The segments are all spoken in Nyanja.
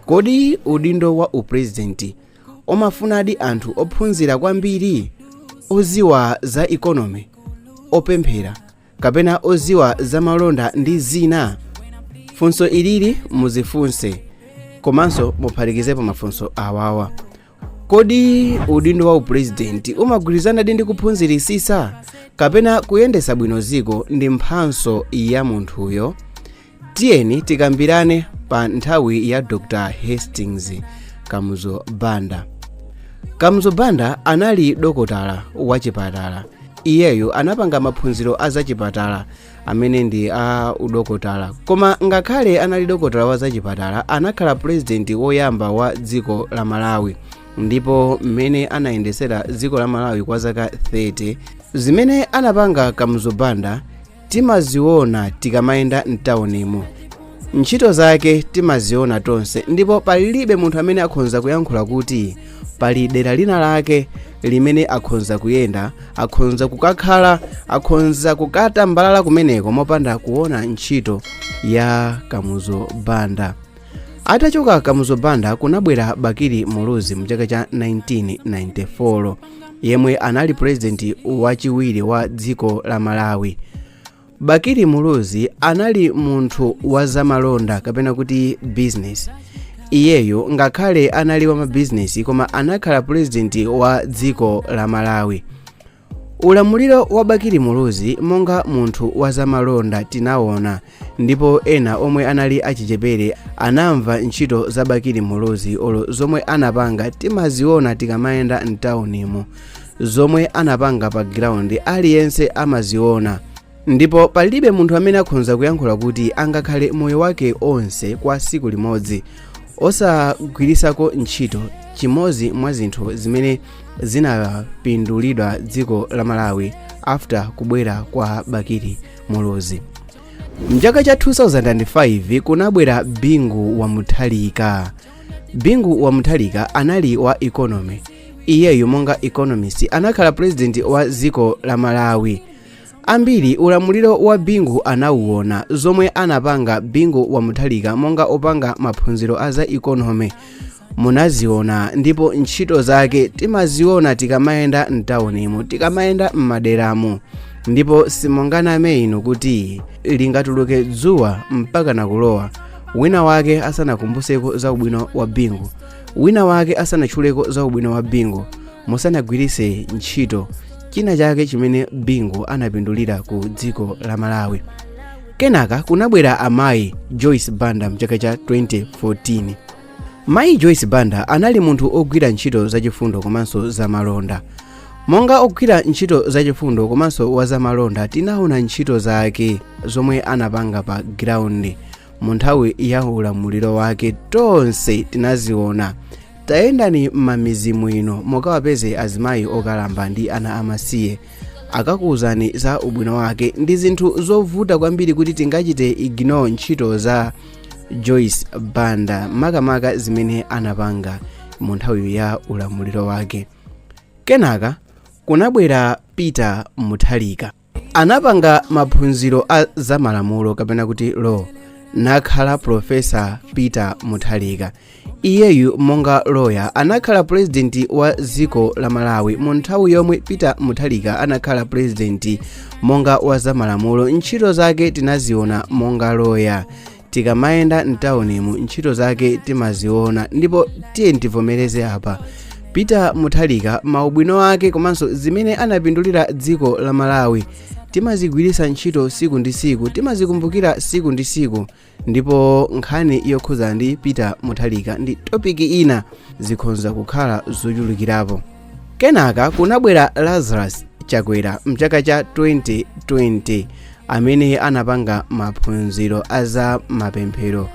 kodi udindo wa upulezidenti umafunadi anthu ophunzira kwambiri oziwa za economy opemphera kapena oziwa za malonda ndi zina funso ilili muzifunse komanso muphatikizepo mafunso awawa kodi udindo wa upulezidenti umagwirizanadi ndi kuphunzirisisa kapena kuyendesa bwino ziko ndi mphatso ya munthuyo tiyeni tikambirane pa nthawi ya dr hastings kamuzu banda kamuzu banda anali dokotala wachipatala iyeyo anapanga maphunziro a zachipatala amene ndi a udokotala koma ngakhale anali dokotala wa zachipatala anakhala purezidenti woyamba wa dziko la malawi ndipo mmene anayendetsera dziko la malawi kwa zaka 30 zimene anapanga kamuzu banda timaziona tikamayenda mtaunimo ntchito zake timaziona tonse ndipo palibe munthu amene akhonza kuyankhula kuti pali dera lina lake limene akhonza kuyenda akhonza kukakhala akhonza kukatambalala kumeneko mopanda kuona ntchito ya kamuzu banda atachoka kamuzu banda kunabwera bakili muluzi mu chaka cha 1994 yemwe anali purezidenti wachiwiri wa dziko la malawi Bakili Muluzi anali munthu wa zamalonda kapena kuti business. Iyeyo ngakhale anali wa mabizinesi koma anakhala pulezidenti wa dziko la Malawi. Ulamuliro wa Bakili Muluzi monga munthu wa zamalonda tinawona ndipo ena omwe anali achichepere anamva ntchito za Bakili Muluzi olo zomwe anapanga timaziona tikamayenda mtaunimo. zomwe anapanga pa ground aliyense amaziona ndipo palibe munthu amene akhonza kuyankhula kuti angakhale moyo wake onse kwa tsiku limodzi osagwirisako ntchito chimodzi mwa zinthu zimene zinapindulidwa dziko la malawi after kubwera kwa bakili muluzi mchaka cha 2005 kunabwera bingu wa mutharika bingu wa mutharika anali wa economy iyeyu monga economist anakhala president wa dziko la malawi ambiri ulamuliro wa bingu anauona zomwe anapanga bingu wa mutharika monga opanga maphunziro a za economy munaziona ndipo ntchito zake timaziona tikamayenda mtawunimu tikamayenda m'maderamu ndipo simunganame inu kuti lingatuluke dzuwa mpaka nakulowa wina wake asanakumbuseko za ubwino wa bingu wina wake asanatchuleko za ubwino wa bingu musanagwiritse ntchito china chake chimene bingu anapindulira ku dziko la malawi kenaka kunabwera amayi joyce banda mchaka cha 2014 mayi joyce banda anali munthu ogwira ntchito zachifundo komanso zamalonda monga ogwira ntchito zachifundo komanso wazamalonda tinaona ntchito zake zomwe anapanga pa ground mu nthawi ya ulamuliro wake tonse tinaziona tayendani m'mamizimu ino mukawapeze azimayi okalamba ndi ana amasiye akakuwuzani za ubwino wake ndi zinthu zovuta kwambiri kuti tingachite ignore ntchito za joyce banda makamaka zimene anapanga mu nthawi ya ulamuliro wake kenaka kunabwera peter mutharika anapanga maphunziro a zamalamulo kapena kuti law nakhala profesa peter mutharika iyeyu monga loya anakhala pulezidenti wa dziko la malawi mu nthawi yomwe peter mutharika anakhala pulezidenti monga wa zamalamulo ntchito zake tinaziona monga loya tikamayenda mtaunimu ntchito zake timaziona ndipo tiyeni tivomereze apa peter mutharika maubwino ake komanso zimene anapindulira dziko la malawi timazigwiritsa ntchito siku ndi siku timazikumbukira siku ndi siku ndipo nkhani yokhuza ndi peter mutharika ndi topiki ina zikhonza kukhala zochulukirapo kenaka kunabwera lazarus chakwera mchaka cha 2020 amene anapanga maphunziro a za mapemphero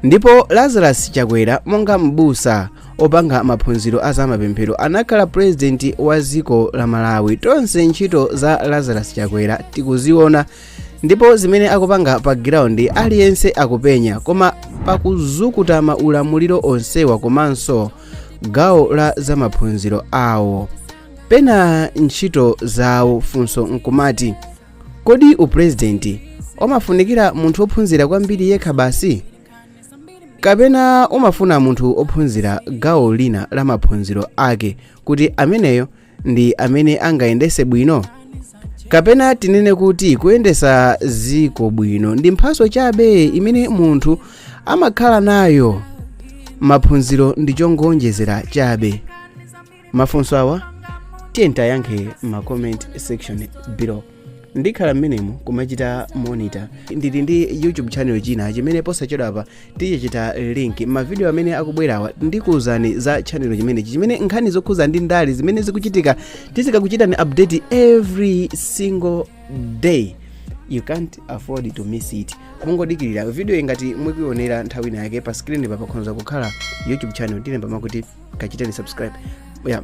ndipo lazarus chakwera monga m'busa opanga maphunziro a za mapemphero anakhala purezidenti wa dziko la malawi tonse ntchito za lazarus chakwera tikuziona ndipo zimene akupanga pa ground aliyense akupenya koma pakuzukuta maulamuliro onsewa komanso gawo la za maphunziro awo pena ntchito zawo funso nkumati kodi upurezidenti umafunikira munthu ophunzira kwambiri yekha basi kapena umafuna munthu ophunzira gawo lina la maphunziro ake kuti ameneyo ndi amene angayendese bwino kapena tinene kuti kuyendesa ziko bwino ndi mphaso chabe imene munthu amakhala nayo maphunziro ndi chongoonjezera chabe mafunso awa tiyeni tiyankhe ma comment section below ndikhala mmenemo kumachita monitor ndili ndi youtube channel china chimene posachedwapa tichita link mavidiyo amene akubwerawa ndikuwuzani za channel chimenechi chimene nkhani zokhuza ndi ndale zimene zikuchitika tizikakuchitani update every single day you can't afford to miss it mungodikirira video ingati mukuionera nthawi ina yake pa screen pa pakhoza kukhala youtube channel tilemba makuti kachitani subscribe yeah.